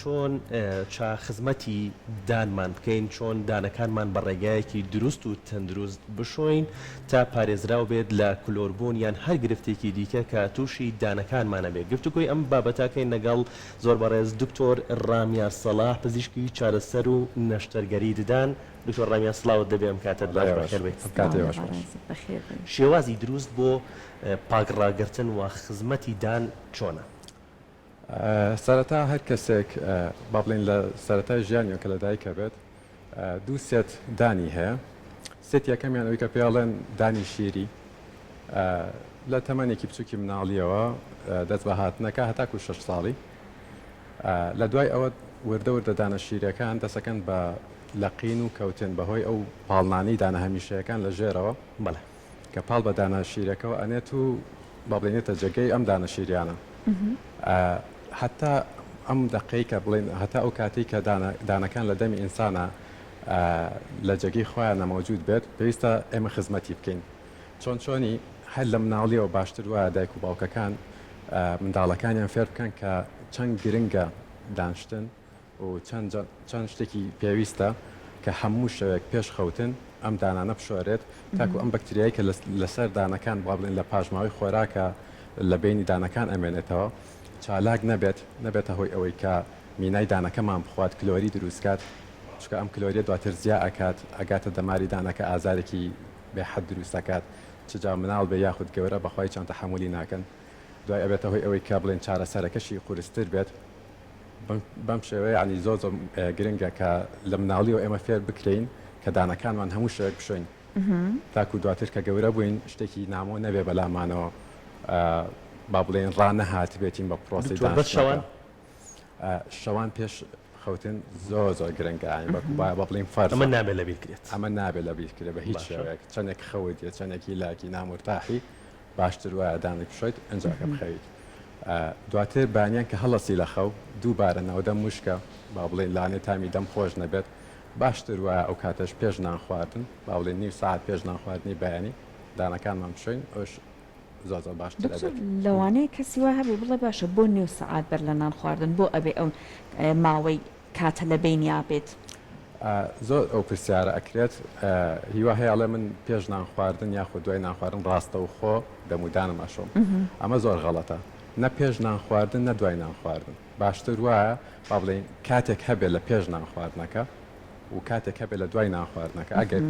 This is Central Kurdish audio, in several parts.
چۆن چا خزمەتی دانمان بکەین، چۆن دانەکانمان بە ڕێگایەکی دروست و تەندروست بشۆین تا پارێزراو بێت لە کلۆربوون یان هەر گرفتێکی دیکە کە تووشی دانەکانمان ئەبێت گفتوگۆی ئەم بابەتەکەین لەگەڵ زۆر بەڕێز دکتۆر ڕامیا سەڵاح پزیشکی چارەسەر و نەشتەرگەری ددان دکتۆر ڕامیا سڵاوت دەبێ ئەم کاتەت باش بەخێر بێت. شێوازی دروست بۆ پاک ڕاگرتن و خزمەتی دان چۆنە؟ سەرەتا هەر کەسێک با بڵێین لە سەرەتای ژیانیەوە کە لەدایک ئەبێت دوو سێت دانی هەیە سێت یەکەمیان ئەوی کە پێڵێن دانی شیری لە تەمەنێکی بچووکی مناڵیەوە دەست بە هاتنەکە هەتاکو شش ساڵی لە دوای ئەوە وردە وردە دانە شیرەکان دەسەکەن بە لەقین و کەوتن بەهۆی ئەو پاڵنانی دانە هەمیشەیەکان لە ژێرەوە بەڵێ کە پاڵ بە دانە شیرەکەوە ئەنێت و با بڵێنێتە جێگەی ئەم دانە شیریانە هەتا ئەم دقەی کە بڵێن هەتا ئەو کاتی کە دانەکان لە دەمی ئینسانە لە جێگەی خۆیان نەمەوجود بێت پێویستە ئێمە خزمەتی بکەین چۆن چۆنی هەر لە مناڵیەوە باشتر وایە دایک و باوکەکان منداڵەکانیان فێر بکەن کە چەند گرنگە دانشتن و چەند چەند شتێکی پێویستە کە هەموو شەوێک پێش خەوتن ئەم دانانە بشۆرێت تاکو ئەم بەکتریای کە لەسەر دانەکان با بڵێن لە پاشماوەی خۆراکە لە بینی دانەکان ئەمێنێتەوە چالاک نەبێت نەبێتە هۆی ئەوەی کە مینای دانەکەمان بخوات کلۆری دروستکات چکە ئەم کلۆریە دواتر زیا ئەکات ئەگاتە دەماری دانەکە ئازارێکی بێحەد دروستەکات چجا مناڵ بێ یاخود گەورە بەخوای چان تەحەمولی ناکەن دوای ئەبێتە هۆی ئەوەی کە بڵێن چارەسەرەکەشی قورستر بێت. بەم شێوەیە یانی زۆر زۆر گرنگە کە لە مناڵیەوە ئێمە فێر بکرێین کە دانەکانمان هەموو شەوێک بشۆین تاکو دواتر کە گەورە بووین شتێکی نامۆ نەبێ بەلامانەوە با بڵێن ڕانەهات بێتین بە پرۆسی شەوان پێش خەوتن زۆر زۆر گرنگە بە بڵین فەر من نابێت لە بیرکرێت ئەمە نابێت لە بیرکرێت بە هیچ شوێک چەندێک خەوت یە چەندێکی لاکی نامرتاحی باشتر وایە دانی بشۆیت ئەنجا کە بخەویت دواتر بانیان کە هەڵەسی لە خەو دووبارە ناودەم مشکە با بڵێن لانێ تامی دەم خۆش نەبێت باشتر وایە ئەو کاتەش پێش نان خواردن با بڵێن نیو ساعت پێش نان خواردنی بەیانی دانەکانمان بشۆین ئەوش زۆر زۆر باشتر دکتۆر دەبێت لەوانەیە کەسی وا هەبێ بڵێ باشە بۆ نیو سەعات بەر لە نان خواردن بۆ ئەبێ ئەو ماوەی کاتە لە بەینیا بێت. زۆر ئەو پرسیارە ئەکرێت هیوا هەیە ئەڵێ من پێش نان خواردن یاخود دوای نان خواردن ڕاستەوخۆ دەمودانم ئەشۆم ئەمە زۆر غەڵەتە نە پێش نان خواردن نە دوای نان خواردن باشتر وایە با بڵێین کاتێک هەبێت لە پێش نان خواردنەکە و کاتێک هەبێت لە دوای نان خواردنەکە ئەگەر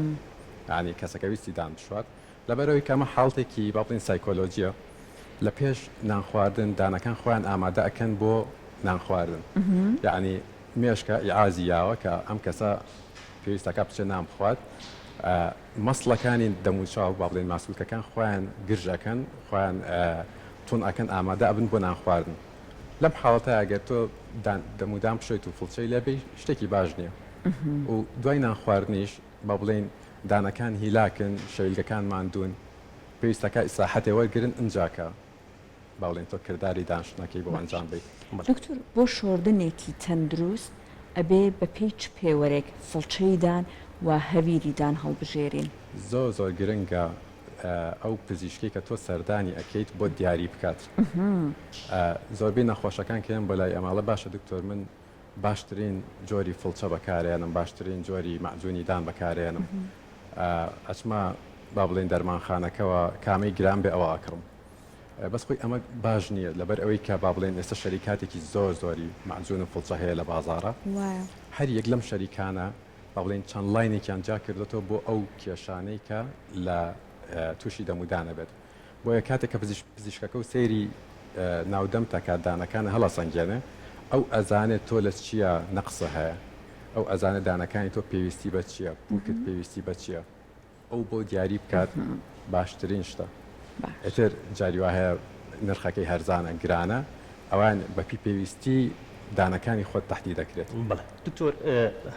ینی کەسەکە ویستی دان بشوات لەبەرئەوەی کە ئەمە حاڵتێکی با بڵێین سایکۆلۆجیە لە پێش نانخواردن دانەکان خۆیان ئامادە ئەکەن بۆ نانخواردن یەعنی مێشکە ئیعازی یاوە کە ئەم کەسە پێویستەکە بچێ نان بخوات مەسڵەکانی دەموچاو با بڵێن ماسولکەکان خۆیان گرژەکەن خۆیان تون ئەکەن ئامادە ئەبن بۆ نانخواردن لەم حاڵەتە ئەگەر تۆ دەمودام بشێت و فڵچەی لێبی شتێکی باش نییە و دوای نانخواردنیش با بڵێین دانەکان هیلاکن، شەیلگەکان ماندوون، پێویستە کە ئیسراحەتێ وەرگرن ئنجا کە با بڵێین تۆ کرداری دانشتنەکەی بۆ ئەنجام بەی. دکتۆر بۆ شۆردنێکی تەندروست ئەبێ بە پێی چ پێوەرێک فڵچەی دان و هەویری دان هەڵبژێرین؟ زۆر زۆر گرنگە ئەو پزیشکەی کە تۆ سەردانی ئەکەیت بۆت دیاری بکات زۆربەی نەخۆشەکان کە یەن بۆ لای ئەمە ئەڵێ باشە دکتۆر من باشترین جۆری فڵچە بەکارێنم باشترین جۆری مەعجونی دان بەکارێنم ئەچمە با بڵین دەرمانخانەکەەوە کامەی گران بێ ئەوە ئەکڕم بەس خۆی ئەمە باش نییە لەبەر ئەوەی کە با بڵێن ئێستا شەریکاتێکی زۆر زۆری مەعجون و فڵچە هەیە لە بازارە هەر یەک لەم شەریکانە با بڵین چەند لاینێکیان جا کردێتەوە بۆ ئەو کێشانەی کە لە تووشی دەمودانە بێت بۆیە کاتێک کە پزیشک پزیشکەکە و سەیری ناو دەمتە کات دانەکانە هەڵەسەنگێنێ ئەو ئەزانێ تۆ لە چیا نەقسە هەیە ئەو ئەزانێ دانەکانی تۆ پێویستی بە چیە پوکت پێویستی بە چیە ئەو بۆ دیاری بکات باشترین شتە ئێتر جاری وا هەیە نرخەکەی هەرزانە گرانە ئەوان بەپی پێویستی دانەکانی خۆت تەحدی دەکرێت. بەڵێ دکتۆر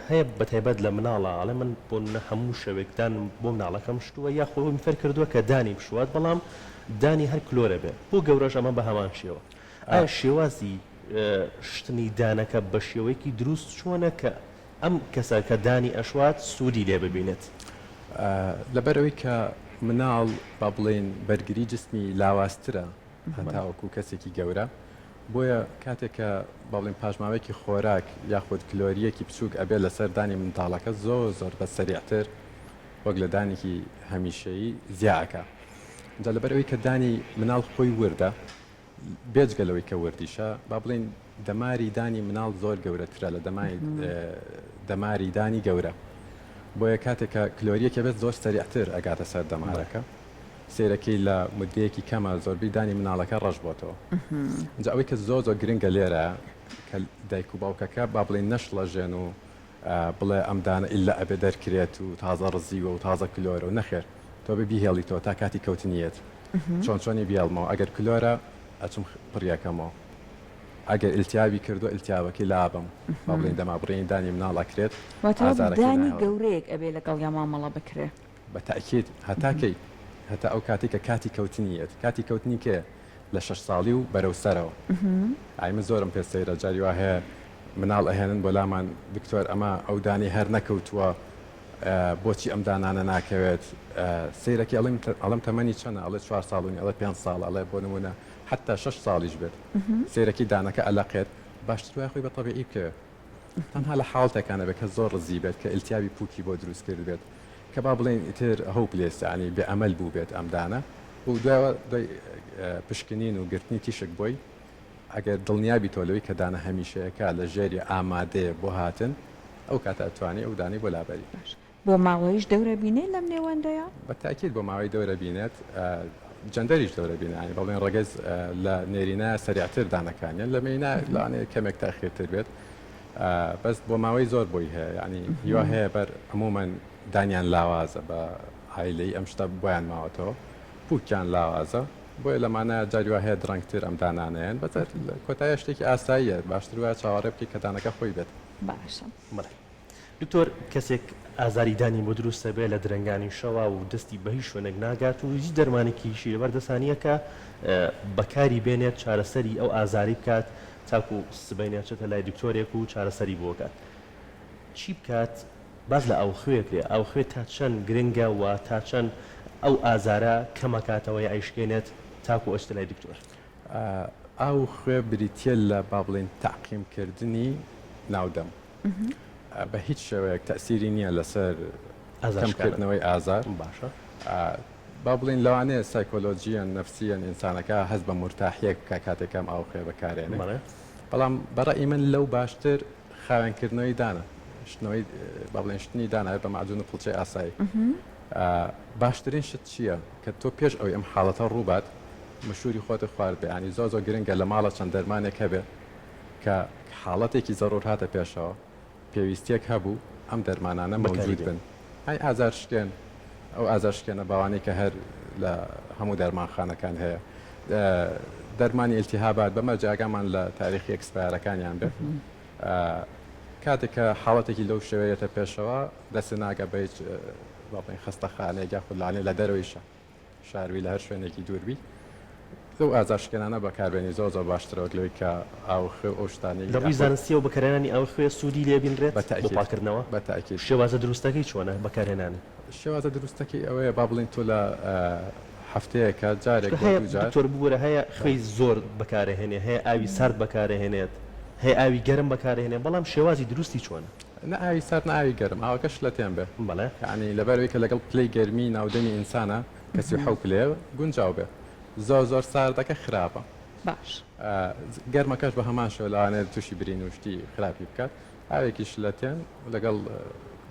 هەیە بەتایبەت لە مناڵە ئەڵێ من بۆ نمونە هەموو شەوێک دانم بۆ مناڵەکەم شتووە یا خۆ من فێر کردووە کە دانی بشوات بەڵام دانی هەر کلۆرە بێ بۆ گەورەش ئەمە بە هەمان شێوە ئایا شێوازی شتنی دانەکە بە شێوەیەکی دروست چۆنە کە ئەم کەسە کە دانی ئەشوات سوودی لێ ببینێت لەبەرەوەی کە مناڵ با بڵێین بەرگری جسمی لاوازترە هەتاوەکو کەسێکی گەورە بۆیە کاتێک کە بەڵێن پاشماوەیەکی خۆراک یاخود کلۆرییەکی بچووک ئەبێت لەسەر دانی منداڵەکە زۆر زۆر بە سەریعتر وەک لە دانێکی هەمیشەیی زیا ئەکا جا لەبەر ئەوی کە دانی مناڵ خۆی وردە بێجگە لەوەی کە وردیشە با بڵین دەماری دانی مناڵ زۆر گەورەترە لە دەمای دەماری دانی گەورە بۆیە کاتێک کە کلۆریەکە بێت زۆر سەریعتر ئەگاتە سەر دەمارەکە. سەیرەکەی لە مودەیەکی کەمە زۆربەی دانی مناڵەکە ڕەش بۆتەوە جا ئەوەی کە زۆر زۆر گرنگە لێرە کە دایک و باوکەکە با بڵێن نەشڵەژێن و بڵێ ئەم دانە ئللا ئەبێ دەرکرێت و تازە ڕزیوە و تازە کلۆرە و نەخێر تۆ بە بیهێڵیتەوە تا کاتی کەوتنیەت چۆن چۆنی بێڵمەوە ئەگەر کلۆرە ئەچم پڕیەکەمەوە ئەگەر التیابی کردو التیابەکەی لابەم با بڵێن دەمابڕێنی دانی مناڵ ئەکرێت واتە دانی گەورەیەک ئەبێ لەگەڵیا مامەڵە بکرێ. بە تەئکید هەتا کەی؟ هەتا ئەو کاتەی کە کاتی کەوتنی یەت، کاتی کەوتنی کێ؟ لە شەش ساڵی و بەرەو سەرەوە ئای من زۆرم پێ سەیرە جاری وا هەیە مناڵ ئەهێنن بۆ لامان دکتۆر ئەمە ئەو دانەی هەر نەکەوتووە بۆچی ئەم دانانە ناکەوێت سەیرەکی ئەڵیم ئەڵم تەمەنی چەنە ئەڵێ چوار ساڵونی ئەڵێ پێنج ساڵ ئەڵێ بۆ نمونە حتا شەش ساڵیش بێت سەیرەکی دانەکە ئەلەقێت باشتر وای خۆی بە تەبیعی بکەوێت تەنها لە حاڵتێکا نەبێت کە زۆر ڕزیی بێت کە ئیلتیابی پووکی بۆ دروست کردبێت کە با بڵێین ئیتر هۆوپلێس یانی بێ ئەمەل بووبێت ئەم دانە و دوایەوە دوای پشکنین و گرتنی تیشک بۆی ئەگەر دڵنیابیتەوە لەوەی کە دانە هەمیشەیەکە لە ژێری ئامادەیە بۆ هاتن ئەو کاتە ئەتوانی ئەو دانەی بۆ لابەری. باشە بۆ ماوەیش دەورە بینێ لەم نێوەندەیە؟ بە تاکید بۆ ماوەی دەورە بینێت جەندەریش دەورە بینێ یانی بەڵێن ڕەگەز لە نێرینە سەریعتر دانەکانیان لە مێینە لەوانەیە کەمێک تاخیرتر بێت بەس بۆ ماوەی زۆر بۆی هەیە یانی هیوا هەیە بەر عموما دانیان لاوازە بە عایلەی ئەم شتە بۆیان ماوەتەوە پوکیان لاوازە بۆیە لەمانە جاری وا هەیە درەنگتر ئەم دانانەیەن بەتەر کۆتایە شتێکی ئاساییە باشتر وایە چاوەڕێ بکەی کە دانەکە خۆی بێت باشە. دکتۆر کەسێک ئازاری دانی بۆ دروست ئەبێ لە درەنگانی شەوا و دەستی بە هیچ شوێنێک ناگات و هیچ دەرمانێکیشی لەبەر دەستا نییە کە بەکاری بێنێت چارەسەری ئەو ئازاری بکات تاکو سبەینێ چێتە لای دکتۆرێک و چارەسەری بۆ کات چی بکات باس لە ئاوخوێ کرێ ئاوخوێ تا چەند گرنگە و تا چەند ئەو ئازارە کەمەکاتەوە یا ئەیشکێنێت تاکو ئەچێتە لای دکتۆر ئاوخوێ بریتییە لە با بڵێین تەعقیمکردنی ناودەم. بە هیچ شێوەیەک تەئسیری نییە لەسەر کەمکردنەوەی ئازار باشە با بڵێن لەوانەیە سایکۆلۆژییەن نەفسییەن ئینسانەکە هەست بە مورتاحیەک بکە کاتێک کەم ئاو خوێ بەکارێنێ بەڵام بە ڕەئی من لەو باشتر خاوێنکردنەوەی دانە شتنەوەی با بڵێن شتنی داناوێ بە مەعجون و قڵچەی ئاسایی باشترین شت چییە کە تۆ پێش ئەوی ئەم حاڵەتە ڕووبات مشوری خۆتە خوارد بەیانی زۆ زۆ گرنگە لە ماڵە چەند دەرمانێک هەبێ کە حاڵەتێکی زەرور هاتە پێشەوە پێویستیەک هەبوو ئەم دەرمانانە مەوجود بن ئەی ئازار شکێن ئەو ئازار شکێنە باوانەی کە هەر لە هەموو دەرمانخانەکان هەیە دەرمانی التهابات بە مەرجە ئاگامان لە تاریخی ئەکسپایرەکانیان بێت کاتێک کە حاڵەتێکی لەو شێوەیەتە پێشەوە دەسێ ناگە بە هیچ خستەخانێک یاخود لانێ لە دەرەوەیشە شاروی لە هەر شوێنێکی دوور بی لەو ئازارشکێنانە بەکاربێنی زۆر زۆر باشترە وەک لەوەی کە ئاو خوێ و ئەو شتانەی لە ڕووی زانستییەوە بەکارهێنانی ئاوی خوێ سوودی لێ بینرێت بۆ پاککردنەوە؟ بە تاکید. شێوازە دروستەکەی چۆنە بەکارهێنانی؟ شێوازە دروستەکەی ئەوەیە با بڵێین تۆ لە هەفتەیەکە جارێک بۆ دوو جار. دکتۆر ببورە هەیە خوێی زۆر بەکارەهێنێ هەیە ئاوی سارد بەکارەهێنێت هەیە ئاوی گەرم بەکارەهێنێ بەڵام شێوازی دروستی چۆنە؟ نە ئاوی سارد نە ئاوی گەرم ئاوەکە شلەتێن بێ بەڵێ. یەعنی لەبەرئەوەی کە لەگەڵ پلەی گەرمی ناو دەمی ئینسانە کە سی و حەوت پلەیە گونجاو بێ زۆر زۆر ساردەکە خراپە. باش. گەرمەکەش بە هەمان شێوە لەوانەیە توشی برین و شتی خراپی بکات ئاوێکی شلەتێن لەگەڵ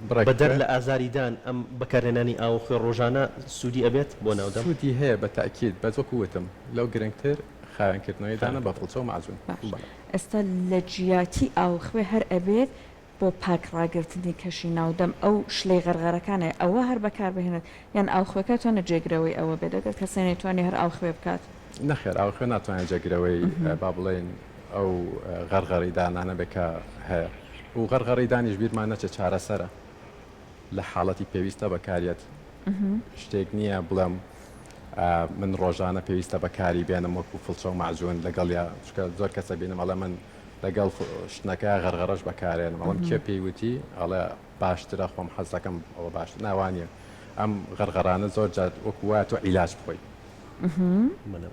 بڕێک. بەدەر لە ئازاری دان ئەم بەکارهێنانی ئاوە خوێ ڕۆژانە سودی ئەبێت بۆ ناو دەم؟ سودی هەیە بە تاکید بەس وەکو وتم لەو گرنگتر خاوێن کردنەوەی دانە بە فڵچە و مەعجون. باش. ئێستا لە جیاتی ئاو خوێ هەر ئەبێ بۆ پاک ڕاگرتنی کەشی ناو دەم ئەو شلەی غەرغەرەکانێ ئەوە هەر بەکار بهێنێت یان ئاو خوێکە تۆنە جێگرەوەی ئەوە بێت ئەگەر کەسێ نەیتوانی هەر ئاو خوێ بکات؟ نەخێر ئاو خوێ ناتوانێت جێگرەوەی با بڵێین ئەو غەرغەری دانانە بێ کە هەیە و غەرغەری دانیش بیرمان نەچێت چارەسەرە لە حاڵەتی پێویستە بەکاریەت شتێک نییە بڵێم من ڕۆژانە پێویستە بەکاری بێنم وەکو فڵچە و مەعجون لەگەڵیا چکە زۆر کەسە بینم ئەڵە من لەگەڵ شتنەکە غەرغەرەش بەکارێنم ئەڵم کێ پێی وتی ئەڵێ باشترە خۆم حەزەکەم ئەوە باش ناوانە ئەم غەرغەرانە زۆر جات وەکو وایە تۆ عیلاج بخۆی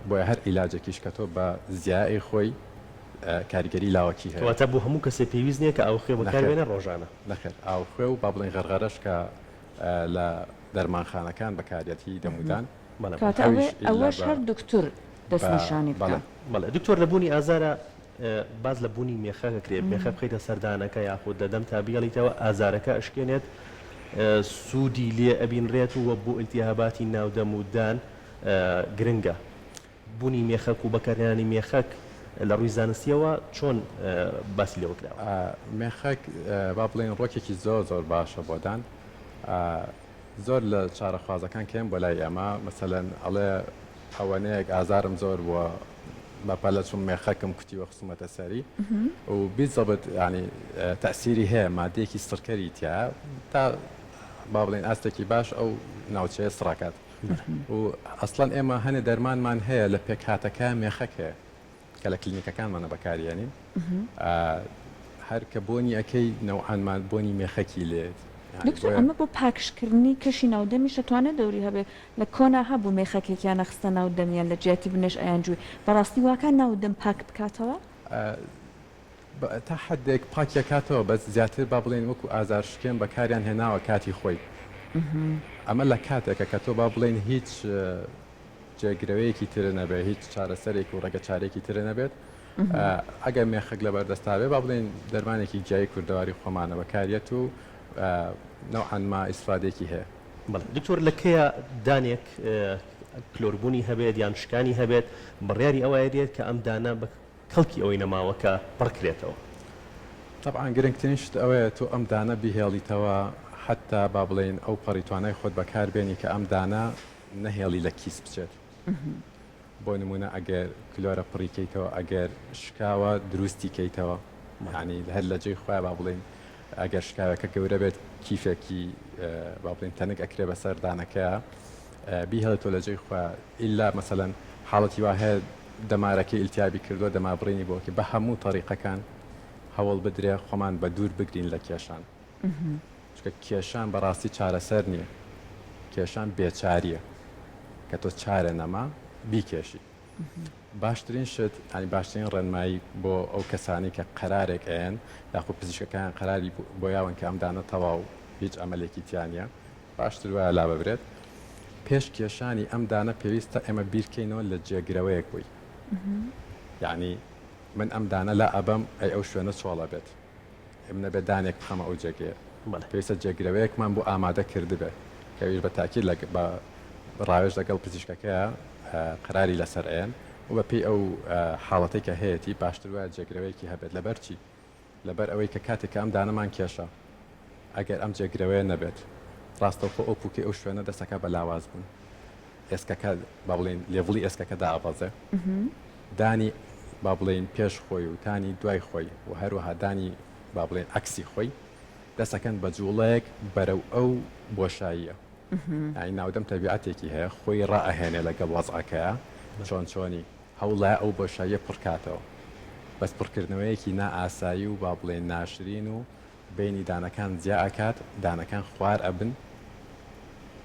بۆ هەر عیلاجێکیش کە تۆ بە زیایی خۆی کاریگەری لاوەکی هەیەواتە بۆ هەموو کەسێ پێویست نیە کە ئەو خوێ بەکارێنە ڕۆژانە نەخێت ئاو خوێ و با بڵێن غەرغەرەش کە لە دەرمانخانەکان بەکارەتی دەمودان. کاتە ئەوێ ئەوەش هەر دوکتور دەست نیشانی بکا. بەڵێ دکتۆر لە بوونی ئازارە باس لە بوونی مێخە کەکرێت مێخە بخەیتە سەردانەکە یاخود لە دەمتا بیڵیتەوە ئازارەکە ئەشکێنێت سوودی لێ ئەبینرێت و بۆ التیهاباتی ناو دەم و دان گرنگە. بونی مێخەک و بەکارهێنانی مێخەک لە ڕووی زانستییەوە چۆن باسی لێوە کراوە؟ مێخەک با بڵێین ڕۆکێکی زۆر زۆر باشە بۆ دان زۆر لە چارەخوازەکان کێن بۆ لای ئێمە مەسەلەن ئەڵێ ئەوەنەیەک ئازارم زۆر بووە بەپەلە چوم مێخەکم کوتی وە خسومەتە سەری و بیزەبت ینی تەسیری هەیە مادەیەکی سڕکەری تیا تا با بڵێن ئاستێکی باش ئەو ناوچەیە سڕکات و ئەسڵەن ئێمە هەنێ دەرمانمان هەیە لە پێکهاتەکە مێخەک هەیە کە لە کلینیکەکانمانە بەکاریێنین هەر کە بۆنی ئەەکەی نەوعانمان بۆنی مێخەکی لێت دکتۆر ئەمە بۆ پاکشکردنی کەشی ناودەمیش دەتوانێت دەوری هەبێ لە کۆنا هەبوو مێخەکێکیان نەخستە ناو دەمیان لە جیاتی بنێش ئەیان جووی بەڕاستی واکە ناو دەم پاک بکاتەوە؟ تا حەدێک پاکی ئەکاتەوە بەس زیاتر با بڵێین وەکو ئازار شکێن بەکاریان هێناوە کاتی خۆی ئەمە لە کاتێکە کە تۆ با بڵێین هیچ جێگرەوەیەکی ترە نەبێت هیچ چارەسەرێک و ڕێگە چارێکی ترە نەبێت ئەگەر مێخک لە بەردەستاوێ با بڵێن دەرمانێکی جیای کوردەواری خۆمانە بەکاریەت و نەوعانما ئیسفادێکی هەیە بەڵێ دکتۆر لە کەیە دانێک کلۆربوونی هەبێت یان شکانی هەبێت بڕیاری ئەوایە دێت کە ئەم دانە کەڵکی ئەوەی نەماوە کە پڕکرێتەوە. تەبعەن گرنگترین شت ئەوەیە تۆ ئەم دانە بیهێڵیتەوە حەتتا با بڵێین ئەو پەڕی توانای خۆت بەکار بێنی کە ئەم دانە نەهێڵی لە کیس بچێت بۆ نموونە ئەگەر کلۆرە پڕی کەیتەوە ئەگەر شکاوە دروستی کەیتەوە یانی هەر لە جێی خۆیان با بڵێین ئەگەر شکاوەکە گەورە بێت کیفێکی با بڵێین تەنک ئەکرێ بەسەر دانەکەیە بیهێڵێ تۆ لەجێی خۆیا ئیلا مەسەلەن حاڵەتی وا هەیە دەمارەکەی ئیلتیابی کردوە دەمار بڕینی بۆ بکەی بەهەموو تەڕیقەکان هەوڵ بدرێ خۆمان بەدوور بگرین لە کێشان چونکە کێشان بەڕاستی چارەسەر نیە کێشان بێچاریە کە تۆ چارە نەما بیکێشی باشترین شت ئەنی باشترین ڕێنمایی بۆ ئەو کەسانی کە قەرارێک ئەیەن یاخود پزیشکەکان قەراری بۆ یاون کە ئەم دانە تەواو هیچ ئەمەلێکی تیانە باشتر وایە لاببرێت. پێش کێشانی ئەم دانە پێویستە ئێمە بیرکەینەوە لە جێگرەوەیەک بووی. یەعنی من ئەم دانە لا ئەبەم ئەی ئەو شوێنە چۆڵ ئەبێت؟ ئەی من ئەبێ دانێک بخەمە ئەو جێگەیە؟ پێویستە جێگرەوەیەکمان بۆ ئامادە کردبێت کە ئەویش بە تاکید بە ڕاوێژ لەگەڵ پزیشکەکەیا قەراری لەسەر ئەیەن و بەپێی ئەو حاڵەتەی کە هەیەتی باشتر وایە جێگرەوەیەکی هەبێت لەبەرچی؟ لەبەر ئەوەی کە کاتێک کە ئەم دانەمان کێشا ئەگەر ئەم جێگرەوەیە نەبێت ڕاستەوخۆ ئەو پووکەی ئەو شوێنە دەسەکە بە لاواز بوون ئێسکەکە با بڵێین لێڤڵی ئێسکەکە دابەزێ دانی با بڵێین پێش خۆی و تانی دوای خۆی و هەروەها دانی با بڵێن ئەکسی خۆی دەسەکەن بە جوڵەیەک بەرەو ئەو بۆشاییە ئای ناودەم تەبیعەتێکی هەیە خۆی ڕائەهێنێ لەگەڵ وەزعەکەیە چۆن چۆنی هەوڵدایە ئەو بۆشاییە پڕکاتەوە، بەس پڕکردنەوەیەکی نا ئاسایی و با بڵێین ناشرین و بەینی دانەکان جیا ئەکات، دانەکان خوار ئەبن،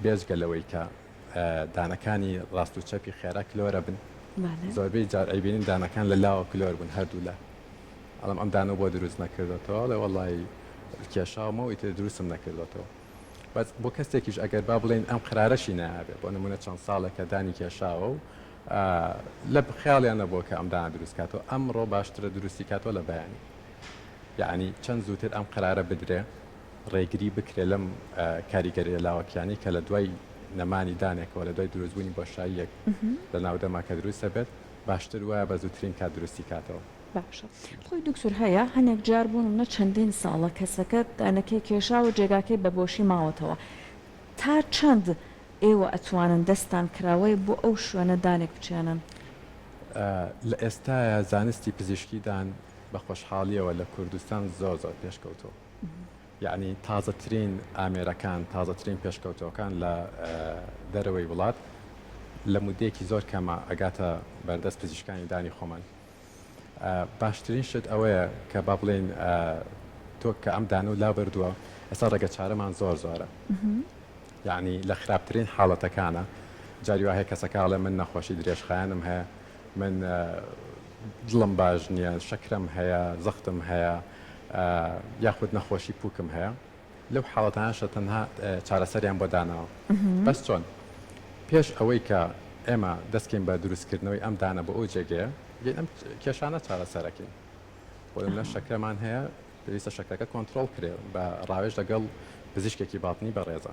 بێجگە لەوەی کە دانەکانی ڕاست و چەپی خێرا کلۆر ئەبن، زۆربەی جار ئەیبینین دانەکان لە لاوە کلۆر بوون هەردوو لا، ئەڵێم ئەم دانەو بۆ دروست نەکردۆتەوە، ئەڵێ وەڵای کێشاومەو ئیتر دروستم نەکردۆتەوە، بەس بۆ کەسێکیش ئەگەر با بڵێین ئەم قەرارەشی نایابێ، بۆ نموونە چەند ساڵێکە دانی کێشاوەو لە خەیاڵیان نەبووە کە ئەم دانە دروست کاتەوە ئەمڕۆ باشترە دروستی کاتەوە لە بەیانی یعنی چەند زووتر ئەم قەرارە بدرێ ڕێگری بکرێ لەم کاریگەریە لاوەکیانی کە لە دوای نەمانی دانێکەوە لە دوای دروستبوونی بۆشاییەک لە ناو دەما کە دروست دەبێت باشتر وایە بە زووترین کات دروستی کاتەوە. باشە خۆی دکتور هەیە هەنێک جار بۆ نمونە چەندین ساڵە کەسەکە دانەکەی کێشاوە جێگاکەی بە بۆشی ماوەتەوە تا چەند ئێوە ئەتوانن دەستتان کراوەیە بۆ ئەو شوێنە دانێک بچێنن. لە ئێستایا زانستی پزیشکی دان بە خۆشحاڵیەوە لە کوردستان زۆر زۆر پێشکەوتووە یەعنی تازەترین ئامێرەکان تازەترین پێشکەوتووەکان لە دەرەوەی وڵات لە مودەیەکی زۆر کەمە ئەگاتە بەردەست پزیشکانی دانی خۆمان. باشترین شت ئەوەیە کە با بڵێین تۆ کە ئەم دانە و لا بردووە ئێستا ڕێگە چارەمان زۆر زۆرە یعنی لە خراپترین حاڵەتەکانە جاری وهەیە کەسەکەڵێ من نەخۆشی درێژخایەنم هەیە من دڵم باش نییە شەکرم هەیە زەختم هەیە یاخود نەخۆشی پوکم هەیە لەو حاڵەتانەشدا تەنها چارەسەریان بۆ داناوە. بەس چۆن؟ پێش ئەوەی کە ئێمە دەستکەین بە دروستکردنەوەی ئەم دانە بۆ ئەو جێگەیە، دێین ئەم کێشانە چارەسەرەکەین. بۆ نمونە شەکرەمان هەیە، پێویستە شەکرەکە کۆنترۆڵ کرێ بە ڕاوێژ لەگەڵ پزیشکێکی باڵتنی بەڕێزە.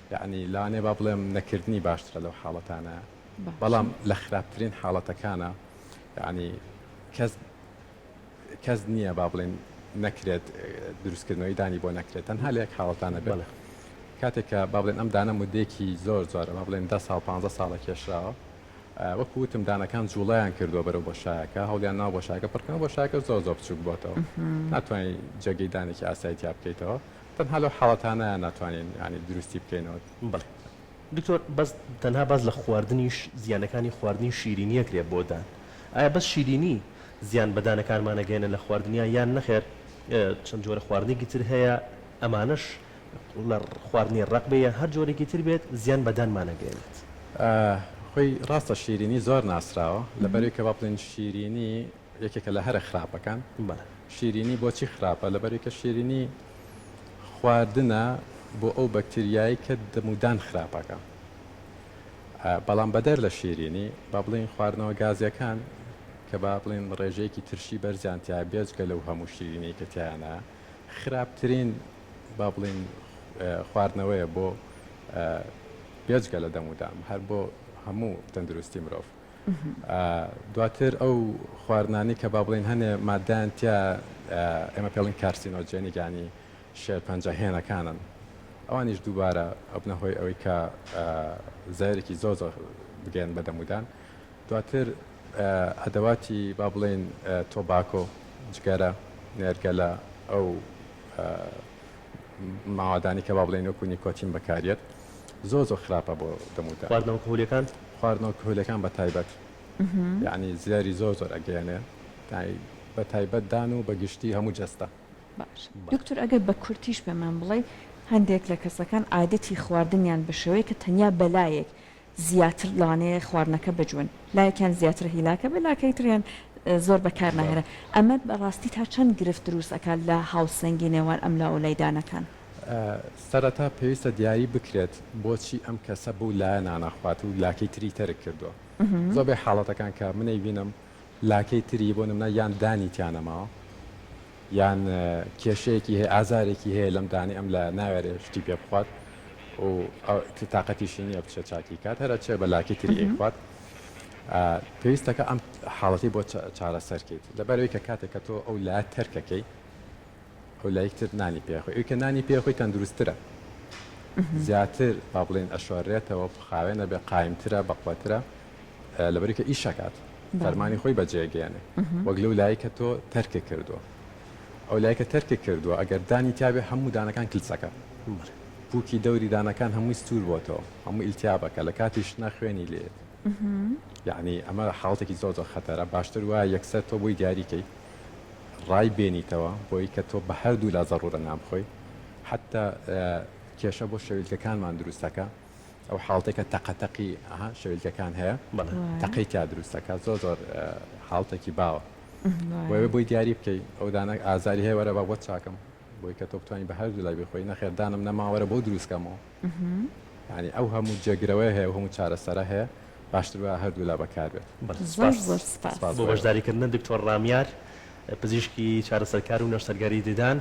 یەعنی لەوانەیە با بڵێم نەکردنی باشترە لەو حاڵەتانە بەڵام لە خراپترین حاڵەتەکانە یەعنی کەس کەس نییە با بڵێن نەکرێت دروستکردنەوەی دانی بۆ نەکرێت تەنها لە یەک حاڵەتانە بێت کاتێک کە با بڵێن ئەم دانە مدێکی زۆر زۆرە با بڵێن دە ساڵ پ ساڵە کێشراوە وەکو وتم دانەکان جوڵیان کردووە بەرەو بۆ شایەکە هەڵیان ناو بۆ شاکە پڕکەن بۆ شاکە زۆر زۆر بچوک بۆتەوە ناتوانین جێگەی دانێکی ئاسایتیا بکەیتەوە تەنها لەو حاڵەتانەیە ناتوانین یانی دروستی بکەینەوە. بەڵێ دکتۆر بەس تەنها باس لە خواردنیش زیانەکانی خواردنی شیرینی ئەکرێ بۆ دان ئایا بەس شیرینی زیان بە دانەکانمان ئەگەیەنێ لە خواردنیان یان نەخێر چەند جۆرە خواردنێکی تر هەیە ئەمانەش لە خواردنی ڕەق بێ یان هەر جۆرێکی تر بێت زیان بە دانمان ئەگەیەنێت. خۆی ڕاستە شیرینی زۆر ناسراوە لەبەرەوەی کە با بڵێن شیرینی یەکێکە لە هەرە خراپەکان. بەڵێ. شیرینی بۆچی خراپە؟ لەبەری کە شیرینی خواردنە بۆ ئەو بەکتریایەی کە دەم و دان خراپەکە. بەڵام بەدەر لە شیرینی با بڵێین خواردنەوە گازیەکان کە با بڵێین ڕێژەیەکی ترشی بەرزیان تیایە بێجگە لەو هەموو شیرینەی کە تیایانە خراپترین با بڵێین خواردنەوەیە بۆ بێجگە لە دەم و دام هەر بۆ هەموو تەندروستی مرۆڤ. دواتر ئەو خواردنانەی کە با بڵێین هەنێ ماددەیان تیا ئێمە پێ بڵێن کارسینۆجێنیک یانی شێرپەنجە هێنەکانن ئەوانیش دووبارە ئەبنە هۆی ئەوەی کە زایرێکی زۆر زۆر بگەن بە دەمودان دواتر ئەدەواتی با بڵێن تۆباکۆ جگەرە نێرگەلە ئەو ماوادانی کە با بڵێن وەکو نیکۆتین بەکاریت زۆر زۆر خراپە بۆ دەموتان. خواردنەوە کهولیەکان؟ خواردنەوە کهولیەکان بە تایبەت یانی زیاری زۆر زۆر ئەگەیەنێ تای بە تایبەت دان و بە گشتی هەموو جەستە. باش دکتور ئەگەر بە کورتیش پێمان بڵێی هەندێک لە کەسەکان عادەتی خواردنیان بە شێوەیەکە تەنیا بە لایەک زیاتر لەوانەیە خواردنەکە بجوێن لایەکیان زیاتر هیلاکە بێ لاکەی تریان زۆر بە کار ناهێرە ئەمە بە ڕاستی تا چەند گرفت دروست ئەکات لە هاوسەنگی نێوان ئەم لا و لای دانەکان؟ سەرەتا پێویستە دیاری بکرێت بۆچی ئەم کەسە بەو لایە ناناخوات و لاکەی تری تەرک کردووە زۆربەی حاڵەتەکان کە من ئەیبینم لاکەی تری بۆ نمونە یان دانی تیانەماوە یان کێشەیەکی هەیە ئازارێکی هەیە لەم دانی ئەم لایە ناوێرێ شتی پێ بخوات و تااقەتیشی نییە بچێت چاکی کات هەرە چێ بە لاکی تری ئەیخوات پێویستەکە ئەم حاڵەتی بۆ چارەسەرکەیت لەبەرەوەی کە کاتێک کە تۆ ئەو لا تەرکەکەی ئەو لای تر نانی پێ ئەخۆی، ئەوی کە نانی پێ ئەخۆی تەندروستترە، زیاتر با بڵێین ئەشۆرێتەوە، خاوێن ئەبێ، قایمترە، بەقوەترە، لەبەر ئەوی کە ئیش ئەکات، فەرمانی خۆی بەجێ ئەگەیەنێ، وەک لەو لایەی کە تۆ تەرکت کردووە. ئەو لایەی کە تەرکت کردووە ئەگەر دانی تیا بێ هەموو دانەکان کلچ ئەکا، پووکی دەوری دانەکان هەمووی سوور بۆتەوە، هەموو ئیلتیاب ئەکا، لە کاتی شتنا خوێنی لێیەت. یەعنی ئەمە حاڵەتێکی زۆر زۆر خەتەرە باشتر وایە یەکسەر تۆ بۆی دیاری کەی ڕای بێنیتەوە بۆی کە تۆ بە هەردوو لا زەڕورە نابخۆی حتا کێشە بۆ شەویلکەکانمان دروستەکە ئەو حاڵتێکە تەقەتەقی ئەها شەویلکەکان هەیە تەقەی تیا دروستەکە زۆر زۆر حاڵتێکی باوە بۆێ بۆی دیاری بکەی ئەو دانە ئازاری هەیە وەرە بە بۆ چاکەم بۆی کە تۆ بتوانین بە هەردوو لای بخۆی نەخێردانم نەماوەرە بۆ دروستکەمەوە یانی ئەو هەموو جێگرەوەی هەیە هەموو چارەسەرە هەیە باشتر وایە هەردوولا بەکاربێت بۆ بەشداریکردن دکتۆر ڕامیار پزیشکی چارەسەرکار و نەشتەرگەری ددان.